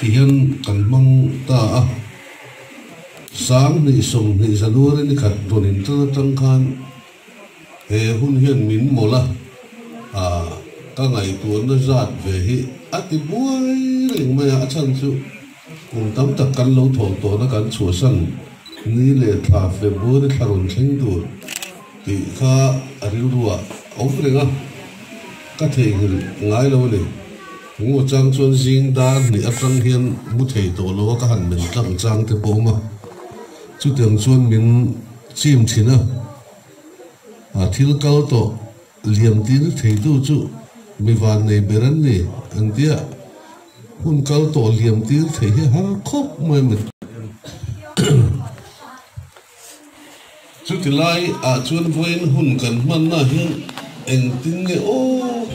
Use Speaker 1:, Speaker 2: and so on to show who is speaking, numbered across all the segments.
Speaker 1: Ti hian kan hmang ta a, sang hnih sawm hnih January ni khat rawn in tan atang khan he hun hian min mawlh a, ah ka ngaihtuahna zat ve hi a ti buai reng mai a, a chhan chu kum tam tak kan lo thawh tawh na kan chhuahsan ni leh thla February thla rawn thleng tur. Tih kha a rilru ah a awm reng a, ka theihngilh ngai lo a ni. Engemaw chang chuan zing dan hnih atang hian mu thei tawh lo a ka han men tlang chang te pawh a awm a, chutiang chuan min chim thin a. A thil kal tawh liamtin theitu chu mi vannei ber an ni entia hun kal tawh liamtin theih hi a har khawp mai a ni. Chuti lai ah chuan vawiin hun kan hman na hi engtin nge aw?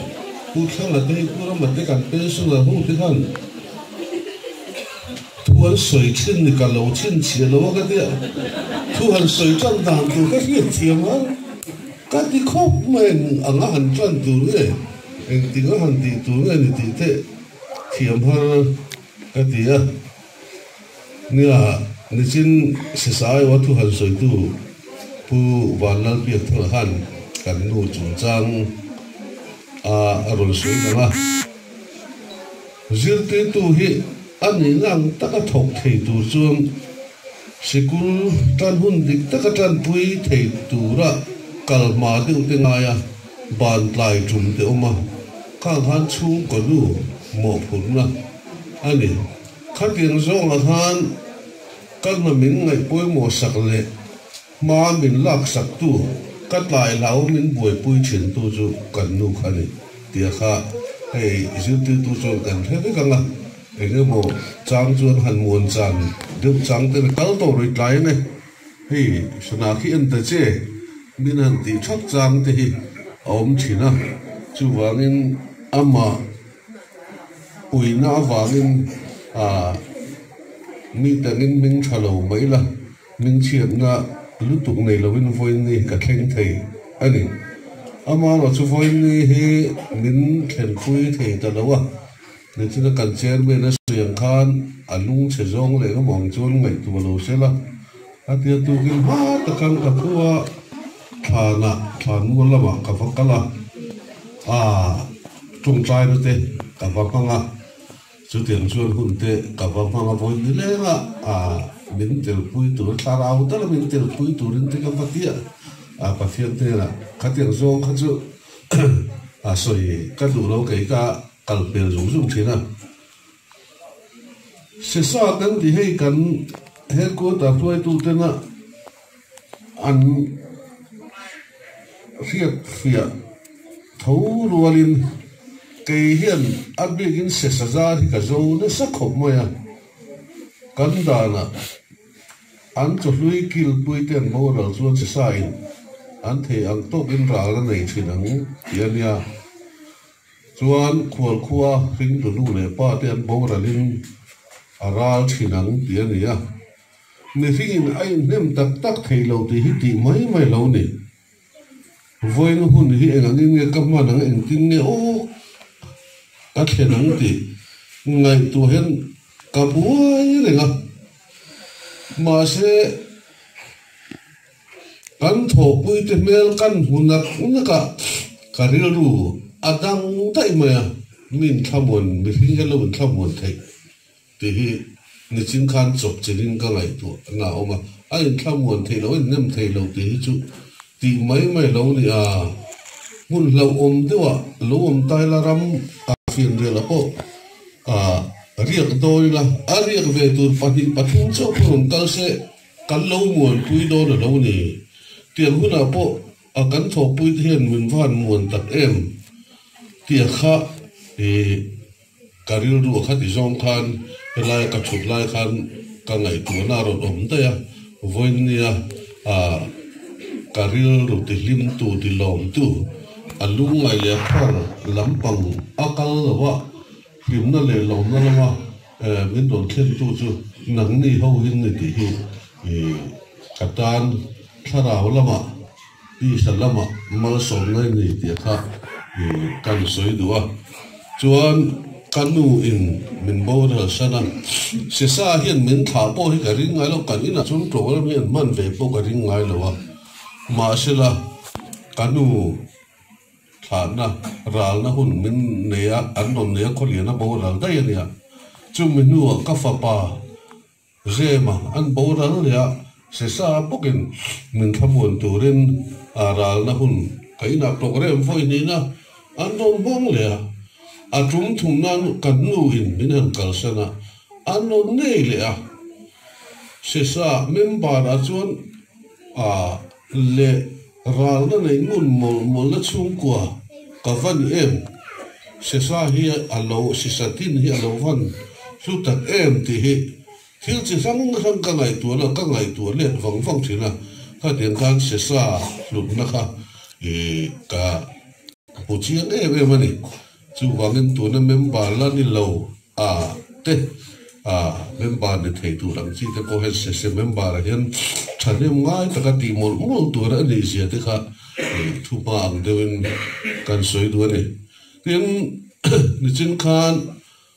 Speaker 1: Pu Thlanga te hi pu Rama te kan pension a hung te khan thu an sawi thin ni ka lo thin chhiah lo a ka ti a, thu han sawi tan dan tur ka hriat thiam a, ka ti khawp mai a eng anga han tlan tur nge? Engtin a han tih tur nge ni tih teh thiam har ka ti a. Nia, nichin Sisaio a thu han sawitu Pu Van Lalpiak Thanga khan kan nu chungchang a rawn sawi dang a. Zirtirtu hi a nih ngang taka thawk thei tur chuan sikul tan hun dik taka tanpui thei tura kal hma deuhte ngai a. Ban tlai tum te awm a, khang khan chhungkaw lu mawhphurhna a ni. Khatiang zawngah khan ka hna min ngaih pawimawh sak leh hma min lak saktu, ka tlai hlaua min buaipui thintu chu kan nu kha a ni tia kha hei zirtirtu chuan kan hre vek ang a, engemaw chang chuan han muan chan deuh chang te nen kal tawh rui tlai ang e. Hei sana khi en ta che, min han tih thap chang te hi a awm thin a, chuvangin amah uina avangin mi tangin min tha lo mai la, min chhiatna lutuk nei lovin vawiinni ka thleng thei a ni. Amaherawhchu vawiinni hi min thlenpui thei ta lo a, Nichuta kan chairman-a sawi ang khan a lung chhe zawng leh rum ang chuan ngaihtuah lo se la, a tia tukin hma takan ka thu a, thlanah thlan mual lamah ka va kal a, aa tawngtai na te ka va hmang a, chutiang chuan hun te ka va hmang a vawi ni leng a, aa min telpui tur thlarau dala min telpui turin te ka va ti a, aa Pathian hnenah khatiang zawng kha chu aa sawi ka duh lo kei ka. Kal hmel zung zung thin a. Sesa kan ti hei kan headquarter hruaitu tena an hriat hria tho rual in kei hian a bik in sesa zar hi ka zo nasa khawp mai a. Kan dan ah an chawhlui kil pui ten boral chuan sesa in an thei ang tawk in ral a nei thin ang tih a nia. Chuan khual khua Hringdunu leh pa te an boral in a ral thin ang ti a ni a. Mihring in a in hnem tak tak thei lo tih hi tih mai mai lo ni. Vawiin hun hi eng angin nge ka hman ang engtin nge uk ka thlen ang tih ngaihtuah hian ka buai reng a. Mahse. Kan thawhpuite hmel kan hmu nak nakah ka rilru a dang daih mai a, min thlamuan, mihring hian lo in thlamuan theih tih hi nichin khan chawp chin in ka ngaihtuah na a awm a, a in thlamuan theih loh, a in nem theih loh tih hi chu tih mai mai lo ni a, hmun hlauhawm deuhah lo awm tai la ram a fian rial a pawh a riak dawi la, a riak ve tur pahnih pathum chauh pawh rawn kal se. Kan lo muanpui dawn a lo ni. Tiang hunah pawh a kan thawhpuite hian min van muan tak em? tia kha i ka rilru a kha ti zawng khan helaia ka chhut lai khan ka ngaihtuahna a rawn awm daih a. Vawinia a ka rilru tihlimtu tilawmtu a lungngai leh a khuar lampang a kal lo a. Hlimna leh lohna lama min rawn thlentu chu nang ni ho hin ni tih hi ka tan. Thlarau lamah, Isha lamah malsawmna i ni tih kha kan sawi duh a. Chuan ka nu in min borualsan a. Sesa hian min thlah pawh hi ka ring ngai lo, kan inah chuan tlawhram hi an hman ve pawh ka ring ngai lo a. Mahsela, ka nu Thlahna, ralna hun min nei a, kan rawn nei a khawlian a boral daih a nia. Chumi hnuah ka fapa Zema an boral leh a, sesa a pawkin min thlamuan turin a ralna hun ka inah tlawk rem fawi niin a, an rawn nghawng leh a. A tum thung nan ka hnu in min han kalsan a, an rawn ngei leh a. Sesa member ah chuan a leh. Râkna nei ngun mawlh mawlhna chhungkua ka van em? Sesa hi a lo, Sisa tin hi a lo van hlu tak em tih hi thil chi hrang hrang ka ngaihtuah lo, ka ngaihtuah let vang vang thin a, khatiang khan Sesa hlutna kha ih ka hmu chiang em em a ni. Chuvangin tuna member la ni lo a te a member ni thei tur ang chi te pawh hian session member ah hian thahnem ngai taka tih mawlh mawlh tur a ni zia te kha thu hma ang deuhin kan sawi duh a ni. Tin nichin khan.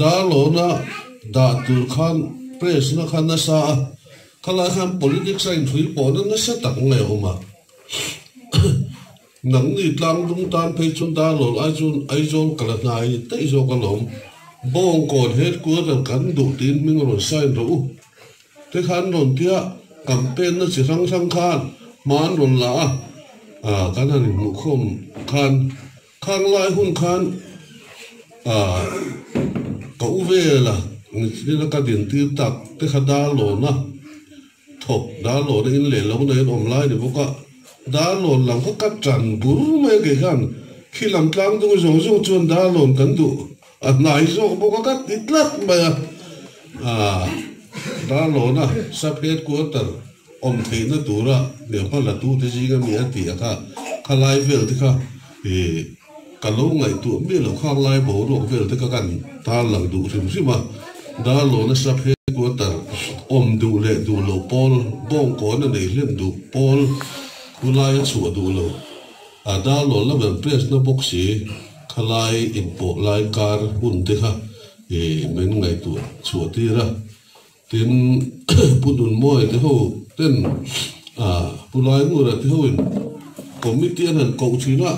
Speaker 1: Dar lawna dah tur khan press-na kha nasa a kha lai hian politics-a inthui pawhna nasa tak nge awm a? Nangni tlang dum tan phei chu dar lawn ai chuan Aizawl ka la hnai daih zawk alawm. Bawngkawn headquarter kan duh tiin hming rawn sign rawh u te khan rawn tia campaign-na chi hrang hrang khan hmaan rawn la a, kan han inhmuh khawm khan. Khang lai hun khan aah ka u vela nithlina ka din tir tak te kha Darlawna thawk Darlawna in leh lo neiin awm lai ni bawk a, Darlawn lam kha ka tan bur mai a kei khan khi lam tlang dungi zawng zawng chuan Darlawn kan duh. A hnai zawk bawk a, ka ti tlat mai a. Aah, Darlona sub headquarter awm theihna tura lehkha latute zing a mi a tih a kha kha lai velte kha i ka lo ngaihtuah miah loh khang lai boruak velte ka kan tarlang duh hrim hrim a. Darlona sub headquarter awm duh leh duh loh pawl, bawngkawn a nei hlem duh pawl, khulai a chhuah duh lo, a Darlona ber press na bawk si. Khalai inpawh lai kar hun te kha i men ngaihtuah chhuah tir a, tin Pu Nun Muai te ho ten Pu Lai Nura te ho in committee an han koh thin a,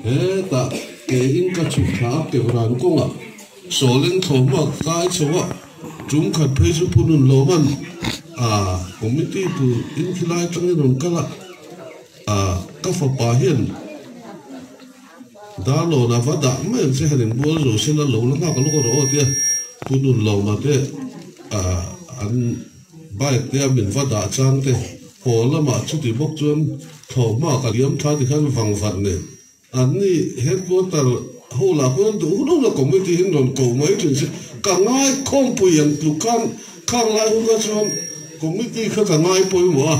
Speaker 1: hetah ke in ka chhuk thla a keu ran kawng a, Sawleng thlawm a ka kai chho a, tum khat phei chu Pu Nun Lawman a committee tur in khilai tlang in rawn kal a, ka fapa hian. Dar lawn ah va dah mai ang che han inbual zo se la lo la nghak lawk a rawh tia pu nun lo ma te ah an bike te a min va dah chang te pawl lamah chuti bawk chuan thlawh hma ka liam tha ti khan vang vat nen an ni headquarter ho lah khuan duh hun hun a committee hi an rawn ko mai thin se ka ngai khawm pui ang tluk khan khang lai hun kha chuan committee kha ka ngai pawimawh a.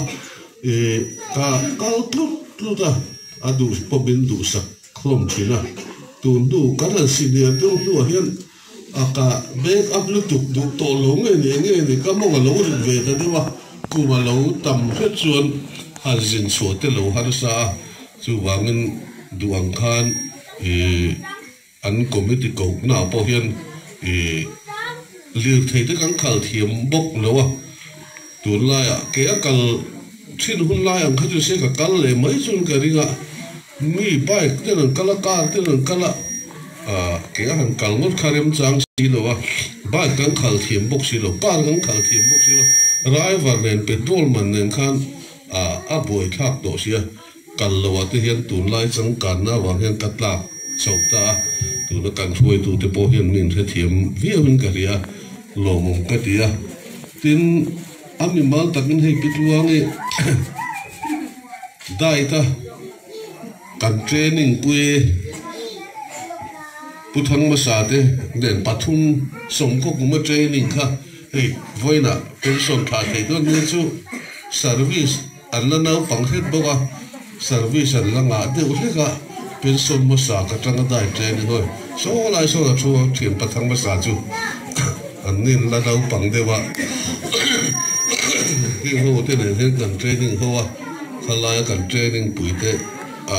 Speaker 1: I ka kal tlut tlut a, a duh pawp in duhsak hlawm thin a, tun du ka rawn si lian deuh hnu ah hian a ka bag up lutuk duh tawh lo nge ni eng nge ni ka mawng a lo rilh ve ta deuh a, kum a lo tam hret chuan han zin chhuah te lo harsa a, chuvangin duh ang khan i. An committee kohnaa pawh hian ih lirthei te kan khal thiam bawk lo a, tunlaiah kei a kal thin hun lai ang khatin se ka kal leh mai chuan ka ring a, mi bike ten an kal a, car ten an kal a, ah kei a han kal ngawt kha rem chang si lo a, bike kan khal thiam bawk si lo, car kan khal thiam bawk si lo, raivar nen petrol man nen khan ah a buai thlak tawh si a. Kal lo ah te hian tunlai changkânna avang hian ka tlâk chauh ta a, tuna kan hruaitu te pawh hian min hrethiam viauin ka hria lawmawm ka ti a. Tin, a mimal takin hei Pitluangi Dâita kan training pui e, Pu Thangmasa te nen pathum sawmkhawkuma training kha hei vawiinah pension thla thei dawn hmel chu service, An la naupang hret bawk a, service an la ngah deuh hlek a, pension hmasa ka tang a dai tleng i hawi saw lai sawn a thu a, thian pathang hmasa chu an in la naupang deuh a, heng ho te nen hian kan training ho a, khalaia kan training pui te a.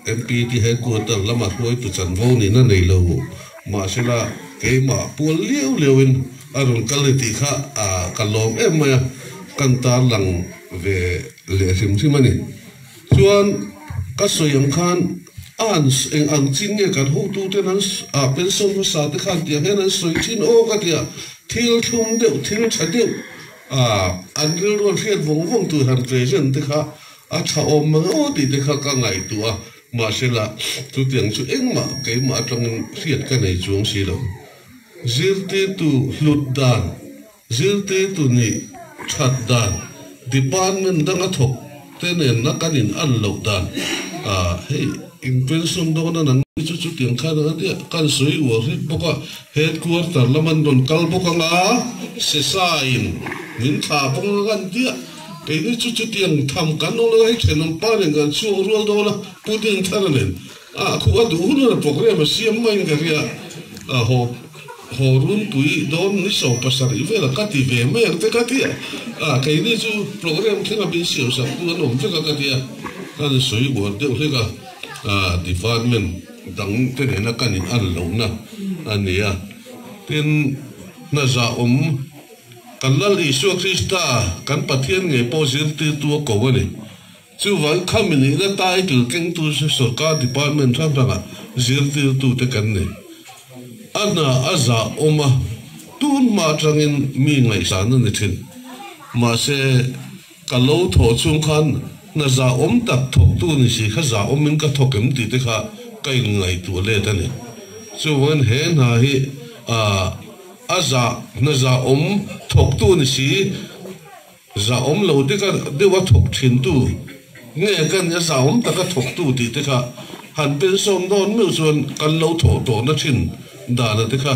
Speaker 1: MP te headquarter lama hruaitu chanvo nih na nei lo. Mahsela keimah pual liau liau in a rawn kal ni tih kha ka lawm em mai a, kan tar lang ve leh hrim hrim a ni. Chuan ka sawi ang khan a an eng ang chin nge kan hotu ten an ah pension hmasa te khan tiang hian an sawi thin aw ka ti a, thil thlum deuh, thil tha deuh ah an rilrual hriat vawng vawng tui han tlei hian te kha, A chhahawm rawh tih te kha ka ngaihtuah a, mahsela chutiang chu engmah keimah atangin hriat ka nei chuang si lo. Zirtirtu hlut dan, zirtirtu nih that dan, department danga thawk te nenna kan inal loh dan ah hei inpension dawna nang hi chu chutiang khan anga nia kan sawi uar hret bawk a, headquarter lama an rawn kal bawk anga, Sesaiin min thlah vang a kan tia. Keini chu chutiang tham kan awm lo hei thenawm pa nen kan chhuak rual dawn a, Pu Ding Thara nen a a khuh a duh hun a programme a siam maiin ka hria a, haw haw Runpui dawn ni saw pasarih vela ka ti ve mai ang te ka ti a, a keini chu programme thlenga min siam sak tu an awm vek a ka ti a, kan sawi uar deuh hlek a, a department dang te nena kan in al lohna a nia tin hnaza awm. Kan Lal Isua Krista kan Pathian ngei pawh zirtirtu a ko a ni. Chuvang kha mi nihna ta eitur kengtu chu sorkar department hrang hrangah zirtirtute kan ni. A hna a zah awm a, tun hma atangin mi ngaihsana ni thin. Mahse. Ka lo thawh chung khan hna zahawm tak thawktu ni si kha zahawmin ka thawk em tih te kha ka inngaihtuah let a ni. Chuvangin he hna hi ah a zah hna zahawm thawktu ni si zahawm lo deka deuh a thawk thintu nge ka nih a zahawm taka thawktu tih te kha han pensawm dawn meuh chuan kan lo thawh tawhna thin dana te kha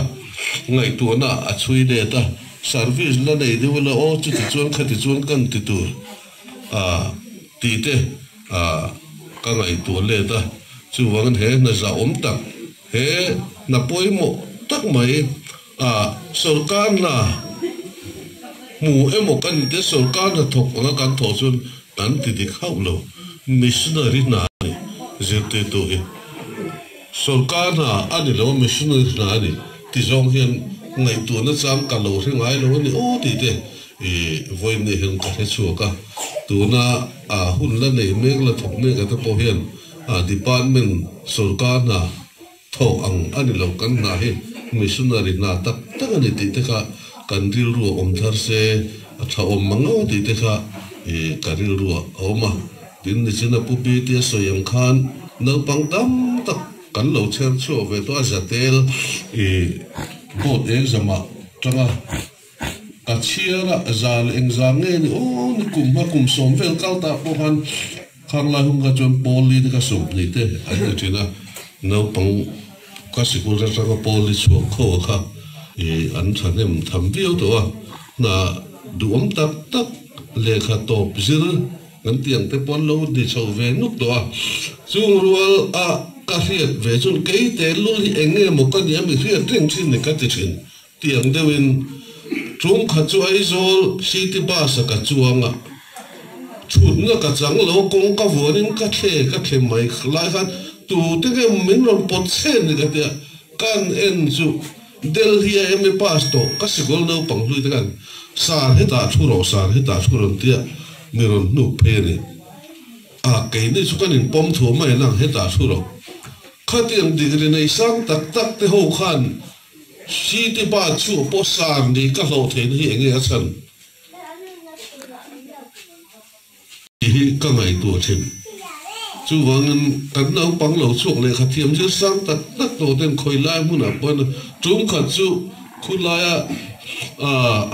Speaker 1: ngaihtuahna a chhui let a. Service la nei deuh ila aw chuti chuan khati chuan kan ti tur a ti te a ka ngaihtuah let a, chuvangin he hna zahawm tak he hna pawimawh tak mai a sorkar hna hmu emaw ka ni te sorkar hna thawk anga kan thawh chuan kan ti dik hauh lo missionary hna a ni zirtirtu hi. Sorkar hna a ni lo, missionaries hna a ni ti zawng hian ngaihtuah na chang ka lo hre ngai lo a ni aw tih te i vawi ni hian ka hre chhuak a. Tuna a hun la nei mek la thawk mek a te pawh hian department sorkar hna thawh ang a ni lo kan hna hi missionary hna tak tak a ni tih te kha kan rilru a awm thar se a tha awm mang lo tih te kha i ka rilru a awm a. Tin nichin a pupi te a sawi ang khan naupang tam tak kan lo chher chhuah ve tawh a Zatel i boat exam ah tanga ka chhiar a zal eng zang nge ni aw ni kum hma kum sawm vel kal ta pawh khan khanglai hung kha chuan Poly te ka sawm hnih te an ni thin a naupang ka sikul atanga Poly chhuak khaw kha i an thahnem tham viau tawh a hna duhawm tak tak lehkha tawp zir Kan tiang te pawh an lo ni chho ve nuk tawh a, chung rual a ka hriat ve chuan kei te lul hi eng nge maw ka nih a mi hriat reng thin ni ka ti thin tiang deuh in chung khat chu Aizawl city bus a ka chuang a thut na ka chang lo kawng ka vuan in ka thle ka thle mai lai khan tu te nge min rawn pawt chhen ni ka ti a kan en chu Delhi a MA pass tawh ka sikul naupang hlui te khan sir hetah thu rawh sir hetah thu rawn ti a mi rawn hnuk phei a ni a keini chu kan in pawm thuam a enang hetah thu rawh khatiang degree nei sang tak tak te ho khan city pa chhuah pawh sir ni ka hlawh theih na hi enge a chhan. Ti hi ka ngaihtuah a then. Chuvangin kan naupang lo chhuak lehkha thiamzir sang tak tak tawh ten khawi lai hmunah pawn tum khat chu khulaia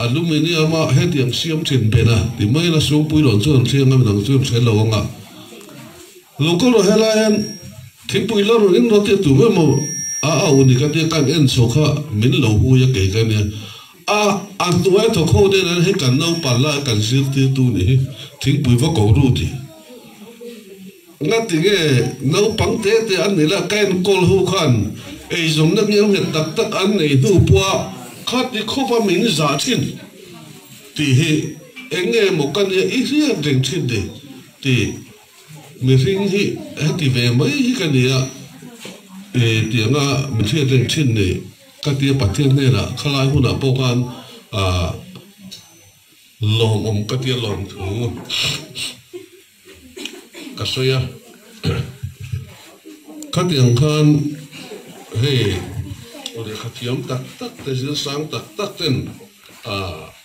Speaker 1: aluminium a hetiang siam thin ben a ti mai in a sum pui loh chuan an thleng a midang chu an hreh lo ang a. Local rawh helai hian thingpui la rawn inrawltiah tur mai maw a a unika tia kan en chho kha min lo hui a kei ka nia. A, A hnuai thawk ho nen an hei kan naupang lai kan zirtirtu ni hi thingpui va ko ru ti nghat ti nge? Naupang te te an ni lah ka enkawl ho khan eizawmna ngiam nghet tak tak an nei hnu pua khati khawpa min zah thin ti hi eng nge maw ka nia i hriat reng thin ni ti. Mihring hi heti ve mai hi ka nia e tianga min hriatreng thin ni ka tia Pathian hnenah khalai hunah pawh khan aah lawmawm ka tia lawm thu ka sawi a khatiang khan hei lehkha thiam tak tak te zir sang tak tak ten aah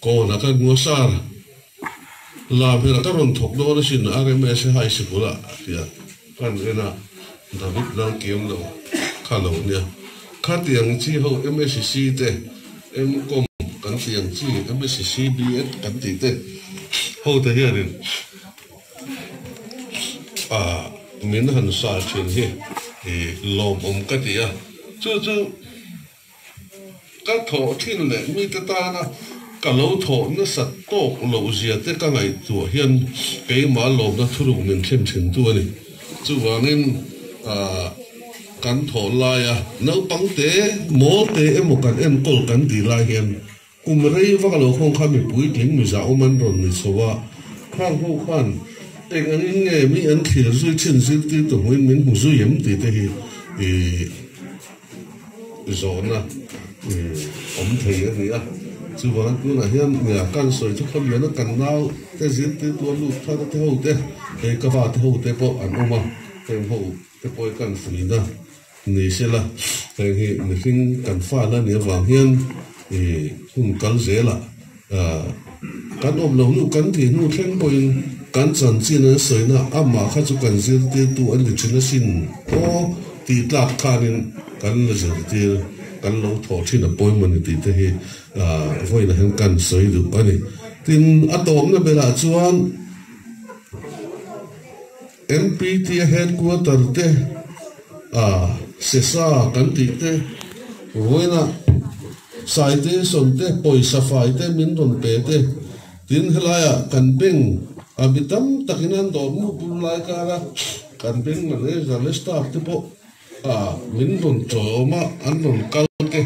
Speaker 1: Call a ka ngua sir. Lam hela ka rawn thawk dawn asin, RMS e high sikul ah a ti a. Kan en a, David Lalkiam lo kha lo nia. Khat iang i chi ho MSc te, MCom kan ti ang chi, MSc BEd kan tih te ho te hian in ah min han sa thin hi i lawmawm ka ti a. Chu chu Ka thawh thin leh mite tana ka lo thawh nasat tawk loh zia te ka ngaihtuah hian keimah lawmna thuruk min thlen thin tu a ni. Chuvangin kan thawh laia naupangte, mawlte emaw kan enkawl kan tih lai hian, Kum rei vak lo khawng kha mi puitling miza awm an rawn ni chho a, khang ho khan eng angin nge mi an thlir zui thin zirtir tu hmuin min hmu zui em tih te hi i zawhna i awm thei a ni a, chuva'n tunah hian nia kan sawi chu khawliana kan naute zirtir tua lut kha ka tihote hei ka fate hote pawh an awm a, heng ho te pawh i kan fuihna. Ni se la, heng hi mihring kan fâ na ni avang hian i hun kal zêl a, kan awm lo luh kan tih hnu thleng pawhin kan chanchin an sawi na a mah kha chu kan zirtîrtu an ni thin asin aw tih tlâk khânin kan la zirtîr, kan lo thawh thin a pawimawh ni tih te hi vawiin ah hian kan sawi duh a ni. Tin, a tâwpna berah chuan. Npt a headquarter te a sesa kan tih te vawiina citation te pawisa fai te min rawn pe te tin helai ah kan bank a mi tam tak in an dawr muh bul lai kar a kan bank manager leh staff te pawh min rawn chaw awm a, an rawn kal te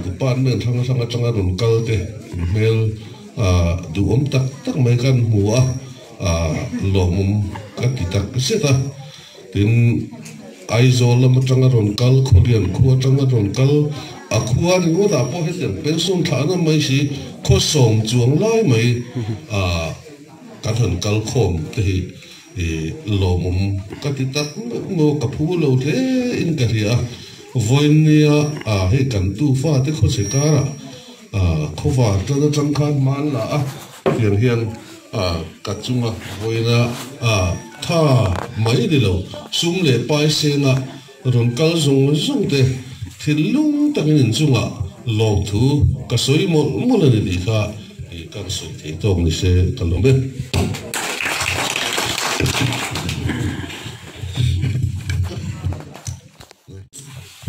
Speaker 1: department hrang hrang atanga rawn kal te in hmel duhawm tak tak mai kan hmu a, lawmawm ka ti tak zet a, tin Aizawl lam atanga rawn kal, Khawlian khu atanga rawn kal, a khua ringawtah pawh hetiang pension thla an awm mai si, khaw sawm chuang lai mai kan han kal khawm te hi I lawmawm ka ti tak ngawk ngawk ka phu lo hle in ka hria a, Vawinia a hei kan tu fa te khawchhe kara a khawvar tlat atang khan hmal la a fiang hian a ka chunga vawiina a tha mai ni lo, sum leh pai senga. Rawn kal zawng zawng te thil lung takin in chunga lawm thu ka sawi mawlh mawlh a ni tih kha ih ka rawn sawi thei tawk ni se ka lawm e.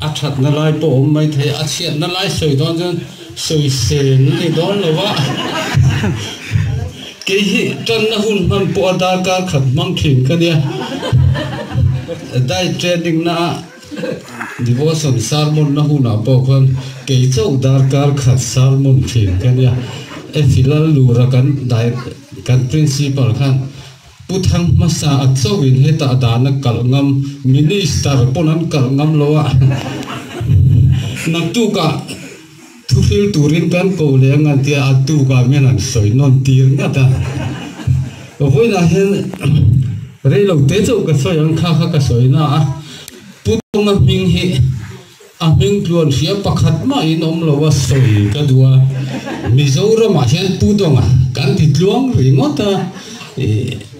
Speaker 1: A thatna lai pawh a awm maithei a chhiatna lai sawi dawn chuan. Sawi se an ni dawn lo va, kei hi tanna hun hman pawha darkar khat hmang thin ka nia. Diet training na ah devotion sermon na hunah pawh khan kei chauh darkar khat sermon thin ka nia. Efilal lura kan diet kan principle khan. Pu Thang hmasa a chauhin heta dana kalh ngam Minister pawn an kalh ngam lo a, naktukah thuhril turin kan ko leh ang an tia a tukah mian an sawi nawn tir ngat a. Vawiinah hian reilote chauh ka sawi ang kha kha ka sawi na a, Pu Thanga hming hi A hming tluan hria pakhat mahin awm lo a sawi ka duh a, Mizoramah hian Pu Dawng-a kan ti tluang ringawt a,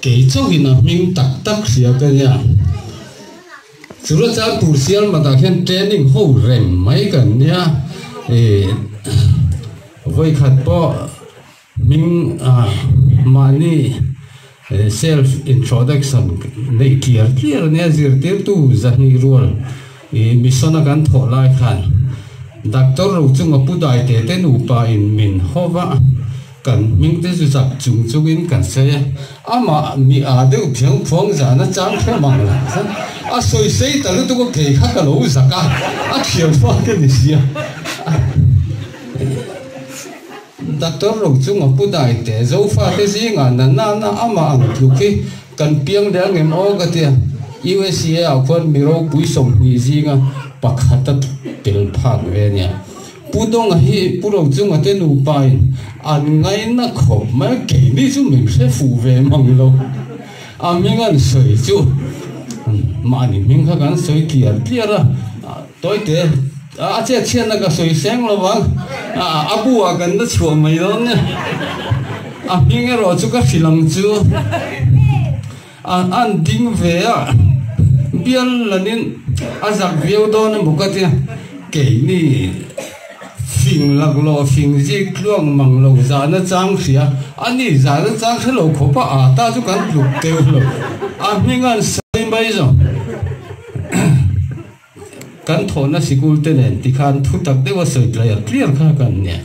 Speaker 1: kei chauhin a hming tak tak hria ka nia. Chura chuan tur sialmata hian training ho reng mai kan nia, vawi khat pawh. Hming a, mahni self introduction neih tliar tliar ania zirtirtu zahnih rual i mission a kan thawh lai khan Doctor ro chunga pu dai te te nupa in min haw va, kan hming te chu chak chung chung in kan sawi a, amah mi aa deuh phiang phuang zan a chang thawm ang lo chuan a sawi sei ta lutuk a kei kha ka lo zak a, a thiam fak a ni sia. Doctor ro chu ngapu dai teh, Zofa te zingah nana na ama ang tluk hi kan piang leh angem aw ka ti a, usa ah khuan mi ropui sawmhnih zinga pakhat a tel phak ve nia. Pu Donga hi Pu Rochunga te nupa in an ngaina khawp mai, keini chu min hre fuh ve mang lo, a hming an sawi chu mah ni hming kha kan sawi tliar tliar a, Tawite a chetchhiatna ka sawi seng lo a, a buah kan la chhuah mai lo nia, a hming erawh chu ka hrilang chu a an ding ve a, bial lanin a zak viau dawn a muk atia, keini fing laklawh fing zik tluang mang lo zahna chang hria, ani zahna chang hre lo khawpa ata chu kan tluk teuhlo, a hming a an sawi mai zawng. Kan thawhna sikulte nen ti khan thutak deuha sawitlai ang tliar kha ka an nia.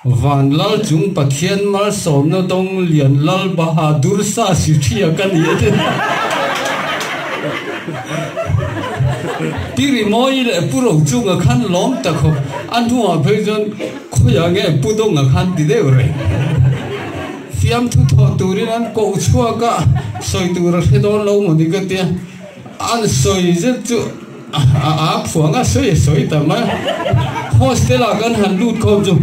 Speaker 1: Van Lalchung Pathian malsawmna dawng lian Lal Bahadur Sasithia ka ni a ti. Tirimawi leh Pu Rochunga khan lawm ta khawp. A hnuah phei chuan khawiah nge Pu Dawnga khan ti deuh reng. Fiamthu thawh turin an koh chhuak a, sawi tur a hre dawn lo mawni ka tia. An sawi zet chu a aa phuang a, sawi sawi tam a. Hostel ah kan han lut khawm chu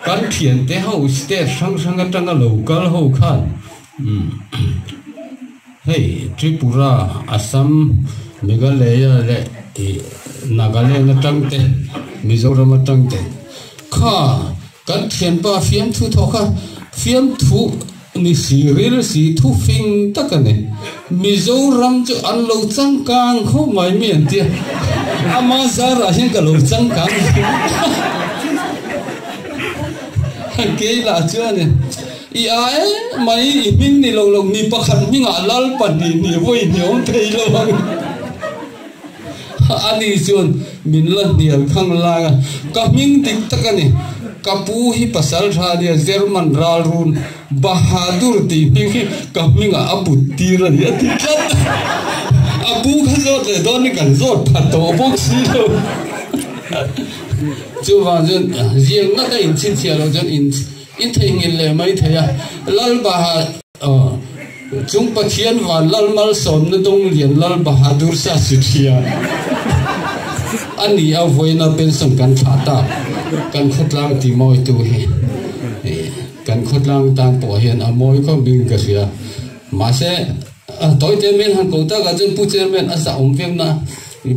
Speaker 1: kan thiante ho state hrang hrang atanga lo kal ho khan hei Tripura, Assam, Meghalaya leh Nagaland atang te, Mizoram atang te kha kan thianpa fiamthu thawh kha fiamthu Ni fîril fî thu fîng tak a ni. Mizoram chu an lo changkâng khawp mai mi an tia. Ama zârah hian ka lo changkâng a ni. Kei lah chuanin i ah e mai i hming ni lo lo mi pakhat hmingah Lalpahnih ni vawi ni awm thei lo ang. Ani chuan min la hnial khang laia ka hming dik tak a ni. Ka pu hi pasaltha nia, German ralrun Bahadur tih hming hi ka hmingah a put tir a ni a ti tlat. A pu kha zawt leh dawn hi kan zawt phat tawh bawk si lo. Chuvang chuan ziak ngata in chhinchhiah loh chuan in theihnghilh leh mai thei a, Lalbahar. A chung Pathian van lal malsawmna dawng lian lal Bahadur Shah Sithiya a ni a vawiina pension kan thlah ta. Kan khawtlang ti mawitu hi kan khawtlang tan pawh hian a mawi khawp niin ka hria. Mahse tawite men han ko takah chuan Pu Chairman a zahawm viauna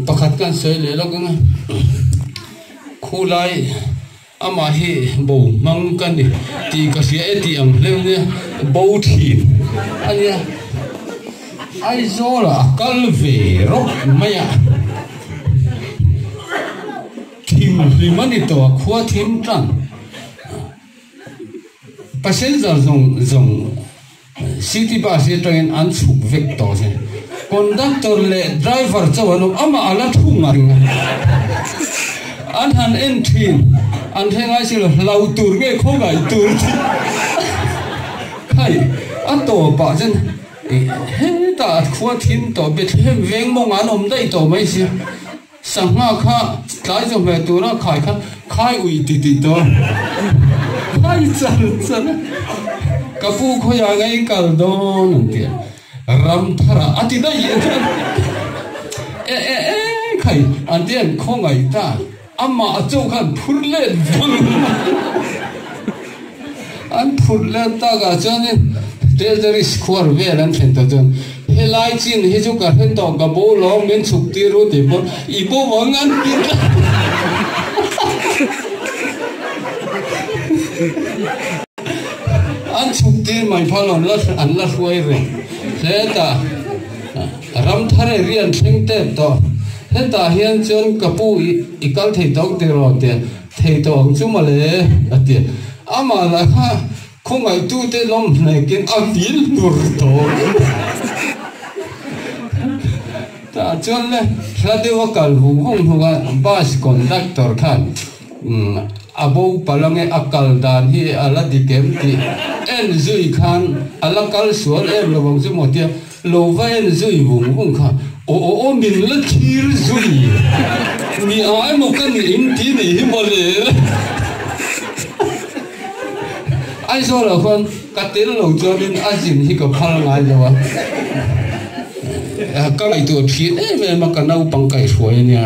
Speaker 1: pakhat kan sawi leh lawk anga, khulai, Amah hi bo hmang ka ni tih ka hria e tih ang hleu nia, bo thin a nia. Aizawla a kal ve rawk mai a, thim hlim a ni tawh a, khua thim tan, passenger zawng zawng. City bus hi atangin an chhuk vek tawh zia. Conductor leh driver chuan aw amah a la thu ngat ngat. An han en thin, an hre ngai si lo, hlau tur nge khaw ngai tur chi. Khai, a tawpah chuan ih hetah at khua thim tawh, Bethlehem veng mawngah an awm daih tawh mai sia. Sangha kha tlai chawhmeh tura khai kha khai ui ti ti tawh khai chal chal a ka pu khawiah ngei kal dawn an ti a ramthara a ti daih a ti a e e e khai an ti a an khawngaih ta amah a chaw khan phur let vang. An phurh leh tak ah chuan in Telteris khuar vel an thlen ta chuan Helai chin hi chu ka hre tawh ka bo lawng min chhuk tir u tih pawn i bo vang an ti tlat an chhuk tir mai phal an la an la hruai reng hle ta Ramthar e ri an thleng tep tawh hetah hian chuan ka pu i kal thei tawng tiraw ti a. Thei tawh ang chu male, a ti. Amah laiha khawngaihtute lawm hnekin a fil hmur tawh em tah chuan le hla deuh a kal hung hung hung a, bus conductor khan a bo pala nge a kal dan hi a la dik em tih en zui khan a la kal sual em lovang chu maw tia. Lo va en zui vung vung kha aw aw aw min la thir zui ni ah emaw ka nih in ti nih hi maw le la Aizawl ah khan ka tel lo chuan in a zin hi ka phal ngai lo a ka ngaihtuah a phian em em a ka naupang kaihhruai a nia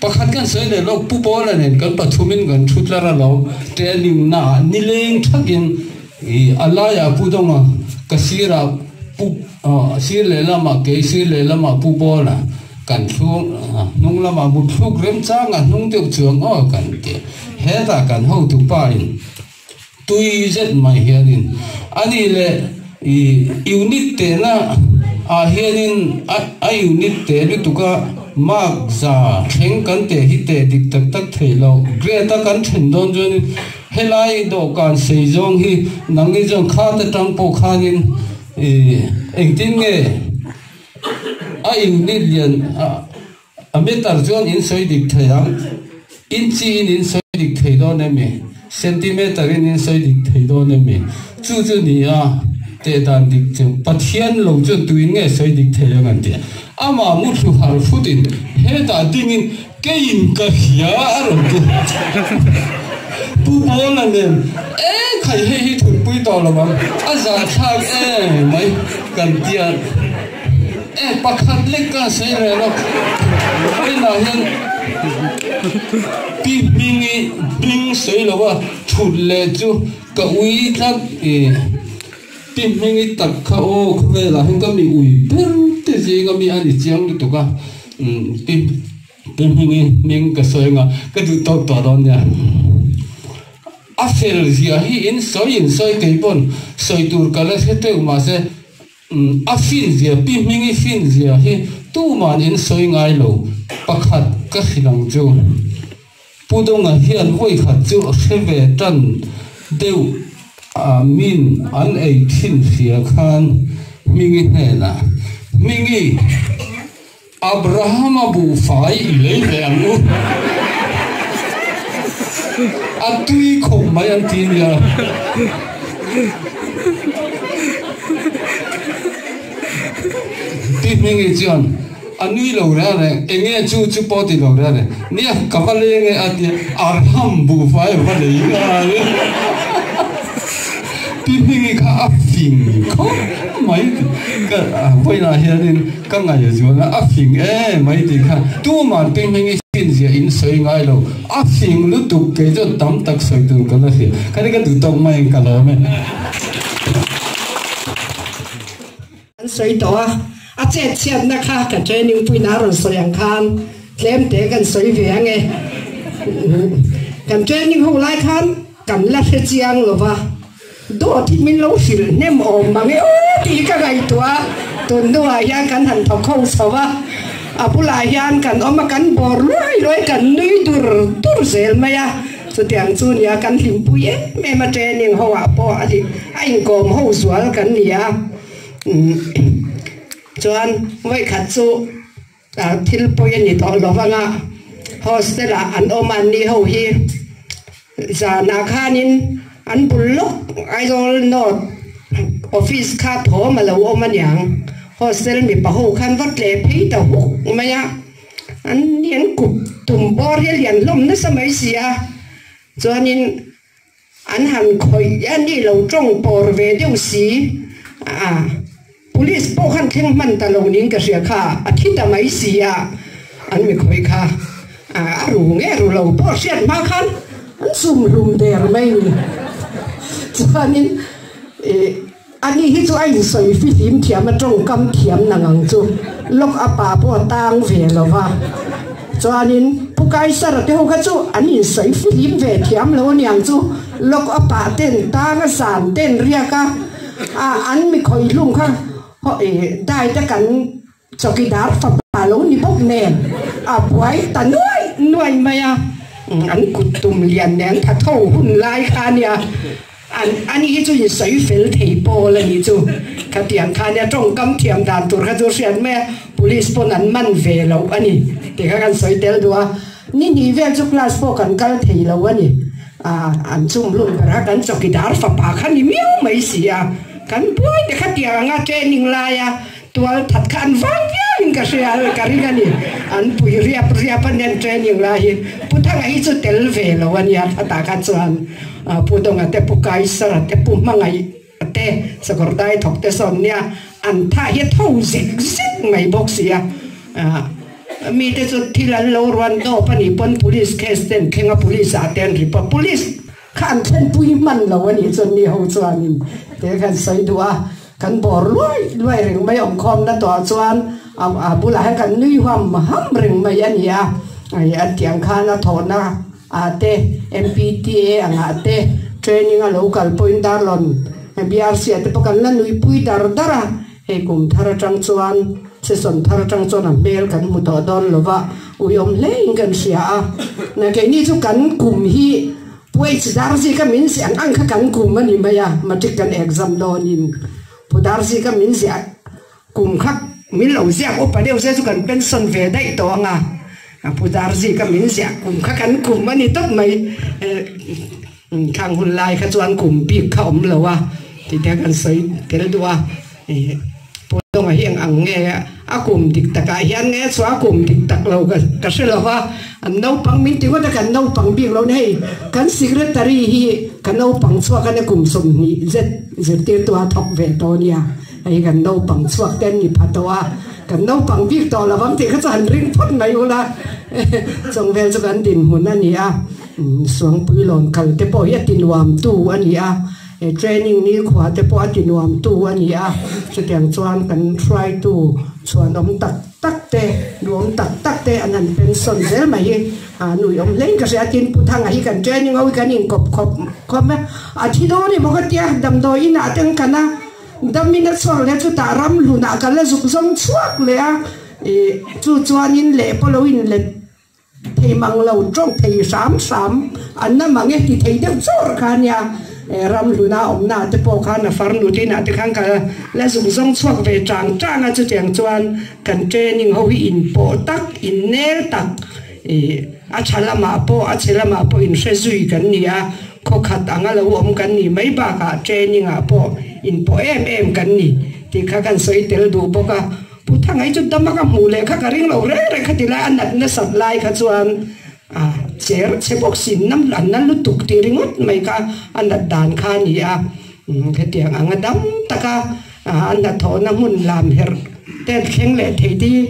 Speaker 1: pakhat kan sawi leh lawk Pu Paula nen kan pathum in kan thu tlar alawm te a ning na ah ni leng thak in I a laiah pu dawnga ka sirah pu a sir lehlamah kei sir lehlamah pu bawla kan thlung a hnung lamah mut thluk remchang a hnung deuh chuang aw kan ti hetah kan hotu pa in tui zet mai hianin ani leh i unit tehna ah hianin a unit teh lutuk a mark za thleng kan teh hi teh dik tak tak theih lo grade a kan then dawn chuanin Helai dawhkan sei zawng hi nangni chuan khart atang pawh khanin ih engtin nge a in mit lian a meter chuan in sawi dik thei ang, inchi in in sawi dik thei dawn em e, centimeter in in sawi dik thei dawn em e chu chu ni a teh dan dik chu Pathian lo chuan tuin nge sawi dik thei ang an ti a. Amah muthlu harh futin hetah dingin. Kei in ka hria a rawn ti. Pu Paula nen e khai hei hi thutpui tawh lo ang a za thlak e mai kan ti a e pakhat lek ka sawi reh lo tunah hian pi hming i hming sawi lo a thut leh chu ka ui tlat e pi hming i tak kha aw khaw velah hian ka mi ui ber te zing a mi a ni chiang lutuk a. Ti hming i hming ka sawi anga ka duh tawk tawh dawn nia. A fel ziah hi in sawi in sawi kei pawn sawi tur ka la hre teuh mahse a fin ziah pi hming i fin ziah hi tuman in sawi ngailo pakhat ka hrilh ang chu. Pu Dawnga hian vawi khat chu a hre ve tan deuh a min an ei thin hria khan Hmingi hnenah, Hmingi, Abrahama buhfai i lei ve ang u, a tui khawp mai an ti nia. Pi Hmingi chuan. A nui lo reng reng, Enge chu chu pawh ti lo reng reng nia, ka va leng e a tia, arham buhfai a va nei nghal e. Pi Hmingi kha a fing khawp mai ti ka vawiinah hianin ka ngaih zual a, a fing em mai ti kha tumah Pi Hmingi finzia in sawi ngai lo, a fing lutuk kei zawt tam tak sawi tur ka la hria, ka ri ka duh tawk mai ang ka lawm e. Kan sawi tawh a, a chetchhiatna kha ka training puiin a rawn sawi ang khan tlemte kan sawi ve ang e. Kan training ho lai khan kan la hre chiang lo va, daw tih min lo hrilh hnem awm mang e aw tih ka ngaihtuah a, tun hnungah hian kan han thaw kho chho va, a bulah hian kan awm a kan bawr luai luai kan nui dur dur zel mai a. Chutiang chu nia kan hlimpui em em a training ho ah pawh a hlih a inkawm ho zual kan ni a chuan vawikhat chu thil pawi a ni tawh lovang a hostel ah an awm a ni ho hi zan ah khan in an bul lawk Aizawl north office kha thawm a lo awm a niang hostel mipa ho khan va tleh phei ta huk mai a. an ni an kut tum bawr hi a lian hlawm nasa mai si a, chuanin an han khawih a ni lo tawng pawr ve deuh si a, police pawh khan thleng hman ta lo niin ka hria kha a thi ta mai si a, an mikhawi kha a ru ngeh ru lo pawh hriat hma khan an sum hlum der mai ni chuanin ih. Ani hi chu a insawi fifim thiam a tawngkam thiam nang ang chu lawk a pa pawh a tang ve lo va, chuanin Pu Kaisara te ho kha chu an insawi fifim ve thiam lo aniang chu lawk a pa ten tang a zan ten riak a, a an mikhawi hlum kha dai te kan Chowkidar fapa lo ni bawk nen a buai ta nuai nuai mai a, an kut tum lian leh an tha tho hun lai kha nia an ani hi chu insawi fel thei pawl a nih chu khatiang kha nia tawngkam thiam dan tur kha chu a hriat mai a, police pawn an man ve lo a ni tih kha kan sawi tel duh a, ni hnih vel chu class pawh kan kal thei lo a ni a, an chum lun ber a kan chowkidar fapa kha ni miau mai si a, kan buai te khatiang anga training lai a. Tual that kha an vang viau in ka hria a, ka ring a ni. An pui riap riap a nen training lai hi. Pu Thanga hi chu tel ve lo a nia, khata kha chuan Pu Dawnga te, Pu Kaisara te, Pu Hmangaih te, Sakawr Daithawk te sawn nia, an thah hi a tho zek zek mai bawk si a. Mi te chu thil an lo ruan dawp a ni pawn police case ten thleng a, police ah te an ri pawn, police Kha an thlenpui hman lo anih chuan mi ho chuanin te kan sawi duh a, kan bawr luai luai reng mai awm khawm na tawh ah chuan a bulah hian kan nui huam ham reng mai ani a, an tih ang khan a thawh na ah te MPTA ang ah te training a lo kal pawhin darlawn BRC ah te pawh kan la nui pui dar dar a. Hei kum thar atang chuan season thar atang chuan a hmel kan hmu tawh dawn lo va, uiawm hlein kan hria a. Na keini chu kan kum hi puai chi dar zika min ziah ang ang kha kan kum a ni mai a, matric kan exam dawnin pu dar zika min ziah kum kha min lo ziak upa deuh zia chu kan pension ve daih tawh ang a, pu dar zika min ziah kum kha kan kum a ni tawp mai. Thlang hun lai kha chuan kum bik kha awm lo a tih te a kan sawi tel duh a. Pawitawngah hi eng ang nge a kum dik takah hian nge chu a kum dik tak lo ka hre lo va, an naupang min ti ngawt a kan naupang bik lo na hei kan secretary hi ka naupang chhuak a nia kum sawmhnih zet zirtirtu a thawk ve tawh a nia hei hi kan naupang chhuak te an ni pha tawh a kan naupang bik tawh lovang tih kha chu han ring phawt mai ula chawng vel chu kan dinhmun a ni a. Suangpuilawn kalte pawh hi a tinuamtu a ni a, he training nihkhuate pawh a tinuamtu a ni a, chutiang chuan kan hruaitu chhuanawm tak tak te, nuam tak tak te an han pensawn zel mai hi a nuihawm hlein ka hria a, tin Puthanga hi kan training ho hi kan inkawp khawp khawp e, a thi dawn hi bawk a tia damdawi inah te an kan a, damin a chhuak leh chutah ram hlunah ka la zuk zawng chhuak leh a, chu chuanin leh pawh lo inlet. Ti thei mang lo tawh thei hram hram an la mang e ti thei deuh chawr kha nia eh ramhluna awmna ah te pawh khan a far nu tin ah te khan ka la zung zawng chhuak ve chang chang a chutiang chuan kan training ho hi in pawh tak in nel tak ih a tha lam ah pawh a che lam ah pawh in hre zui kan ni a khaw khat ang a lo awm kan nih mai bak ah training ah pawh in pawh em em kan ni tih kha kan sawi tel duh bawk a. Pu Thangai chu dama ka hmuh leh kha ka ring lo reng reng kha ti lai a nat nasat lai kha chuan a cher chhe bawk sin nam an la lutuk tih ringawt mai kha a nat dan kha a ni a hetiang ang a dam taka a hnathawh na hmun lam herh te thleng leh thei te hi